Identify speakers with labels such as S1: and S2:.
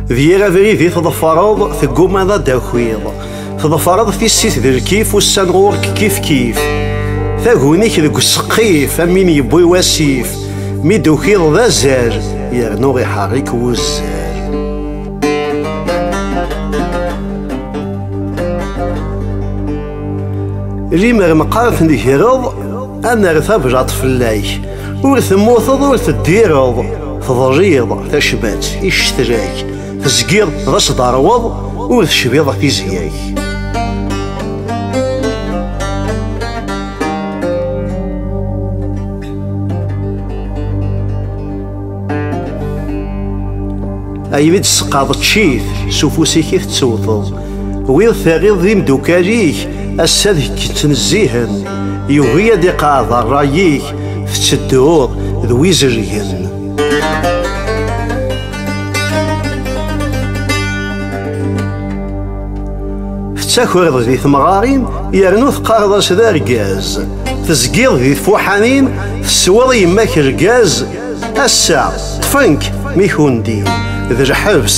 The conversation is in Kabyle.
S1: D yir abrid i teḍfareḍ teggummaḍ ad d-takiḍ teḍfareḍ tissit d lkif ussan ɣur-k kif kif taguni-k deg useqqif am win yewwi wasif mi d-tukiḍ d azal yernu iḥerrik wuzzal Limer meqqret negreḍ, ad nerr tablaḍt fell-ak. Ur temmuteḍ ur teddireḍ, teḍliḍ tacmat i cetrak. Tezgiḍ d asdeṛweḍ, ur tecbiḍ tizya-k. Ay mi d-tesqaḍ ccit, s ufus-ik i tettewteḍ. Wid terriḍ d imdukal-ik, ass-a ad k-ttnezzihen. Yugi ad iqeɛɛed ṛṛay-ik, tettedduḍ d wizelgen. Tettakreḍ di temɣarin yernu teqqareḍ-as d argaz. Tezgiḍ di tfuḥanin, tesweḍ i yemma-k lgaz. Ass-a, ṭṭfen-k mi kundin, d lḥebs.